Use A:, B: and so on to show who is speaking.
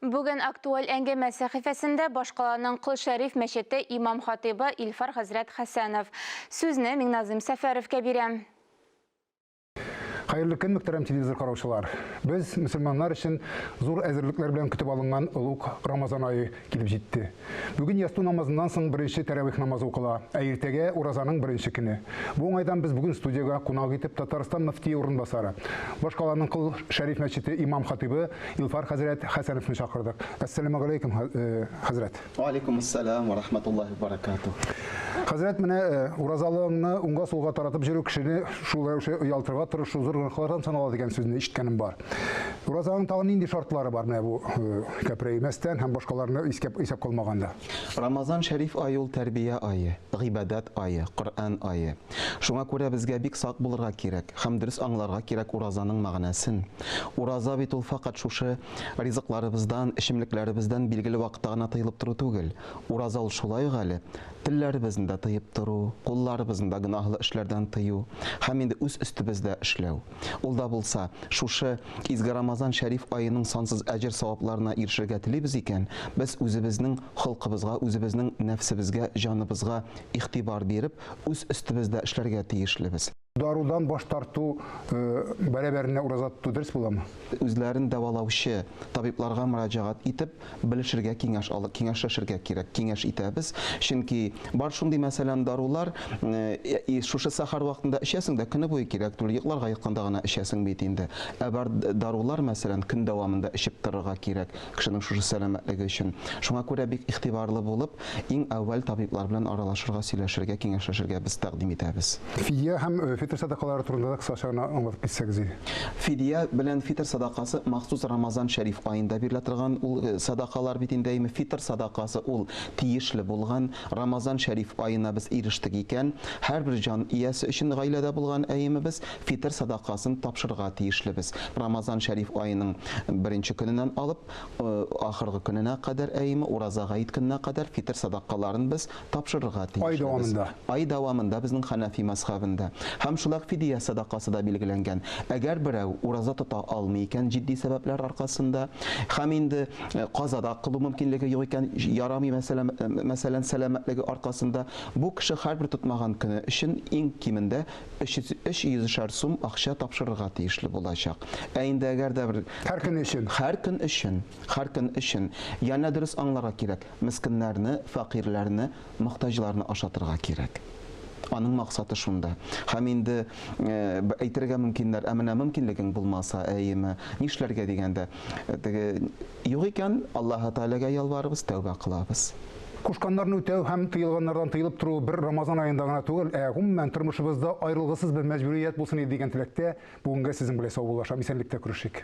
A: Бүген Актуаль әңгәмә сәхифәсендә башкаланың Кол Шәриф мәчете имам-хатыйбы Илфар хәзрәт Хәсәнов. Сүзне Миңназыйм Сәфәровкә бирәм. Хәерле
B: көн, мөхтәрәм телевизор караучылар! Без, мөселманнар өчен зур әзерлекләр белән көтеп алынган олуг Рамазан ае килеп җитте. Бүген ястү намазыннан соң беренче тәравих намазы укыла, ә иртәгә, уразаның беренче көне. Бу уңайдан без бүген студиягә кунак итеп Татарстан мөфтие урынбасары, башкаланың Кол Шәриф мәчете имам-хатыйбы Илфар хәзрәт Хәсәновны чакырдык. Әссәламегаләйкүм, хәзрәт! Вә аләйкүмәссәлам
C: вә рахмәтуллаһи вә бәрәкатүһ! Хәзрәт, менә
B: уразалыгыңны уңга-сулга таратып йөрү кешене шул рәвешле оялтырга тырышу зур гөнаһлардан санала дигән сүзне ишеткәнем бар. Уразаның тагын нинди шартлары бар менә бу кәпрәймәстән һәм башкаларны искә исәп калмаганда? Рамазан шәриф
C: ае ул тәрбия ае, гыйбадәт ае, Коръән ае. Шуңа күрә безгә бик сак булырга кирәк һәм дөрес аңларга кирәк уразаның мәгънәсен. Ураза бит ул фәкать шушы ризыкларыбыздан, эчемлекләребездән билгеле вакытта гына тыелып тору түгел. Ураза ул шулай ук әле телләребезне дә тыеп тору, кулларыбызны да гөнаһлы эшләрдән тыю һәм инде үз өстебездә эшләү. Ул да булса, шушы изге Рамазан шәриф аеның сансыз әҗер-савапларына ирешергә телибез икән, без үзебезнең холкыбызга, үзебезнең нәфсебезгә, җаныбызга игътибар биреп, үз өстебездә эшләргә тиешлебез. Дарудан баш
B: тарту бәрабәренә ураза тоту дөрес буламы? Үзләрен
C: дәвалаучы табибларга мөрәҗәгать итеп, белешергә киңәш алып киңәшләшергә кирәк киңәш итәбез чөнки бар шундый мәсәлән дарулар э, шушы сахар вакытында эчәсең дә көне буе кирәк түгел йокларга ятканда гына эчәсең бит инде ә бар дарулар мәсәлән көн дәвамында эчеп торырга кирәк кешенең шушы сәламәтлеге өчен шуңа күрә бик игътибарлы булып Иң әүвәл табиблар белән аралашырга, сөйләшергә, киңәшләшергә без тәкъдим итәбез. Фидия һәм
B: фитр садакалары турында да кыскача гына аңлатып китсәгез иде. Фидия
C: белән фитр садакасы махсус Рамазан Шәриф аенда бирелә торган ул садакалар бит инде, әйеме? Фитр садакасы ул тиешле булган. Рамазан Шәриф аена без ирештек икән, һәрбер җан иясе өчен гаиләдә булган, әйеме, без фитр садакасын тапшырырга тиешлебез. Рамазан Шәриф аеның беренче көненнән алып, Ахыргы көненә кадәр, әйеме, ураза гает көненә кадәр фитер садакаларын без тапшырырга тиешлебез. Ай дәвамында. Ай дәвамында безнең хәнәфи мәзхәбендә. Һәм шулай ук фидия садакасы да билгеләнгән. Әгәр берәү ураза тота алмый икән җитди сәбәпләр аркасында, һәм инде каза да кылу мөмкинлеге юк икән, ярамый, мәсәлән, сәламәтлеге аркасында, бу кеше һәрбер тотмаган көне өчен иң кимендә 300 шәр сум акча тапшырырга тиешле булачак. Ә инде әгәр дә бер һәр көн өчен, һәр көн өчен, һәр көн өчен янә дөрес аңларга кирәк. Мескеннәрне, фәкыйрьләрне, мохтаҗларны ашатырга кирәк. Аның максаты шунда. Һәм инде э, әйтергә мөмкиннәр, ә менә мөмкинлегең булмаса, әйеме, нишләргә дигәндә, э, теге Юк икән, Аллаһы Тәгаләгә ялварабыз, тәүбә кылабыз. Кушканнарны
B: үтәү һәм тыелганнардан тыелып тору бер Рамазан аенда гына түгел, ә гомумән тормышыбызда аерылгысыз бер мәҗбүрият булсын иде дигән теләктә, бүгенгә сезнең белән саубуллашам, исәнлектә күрешик.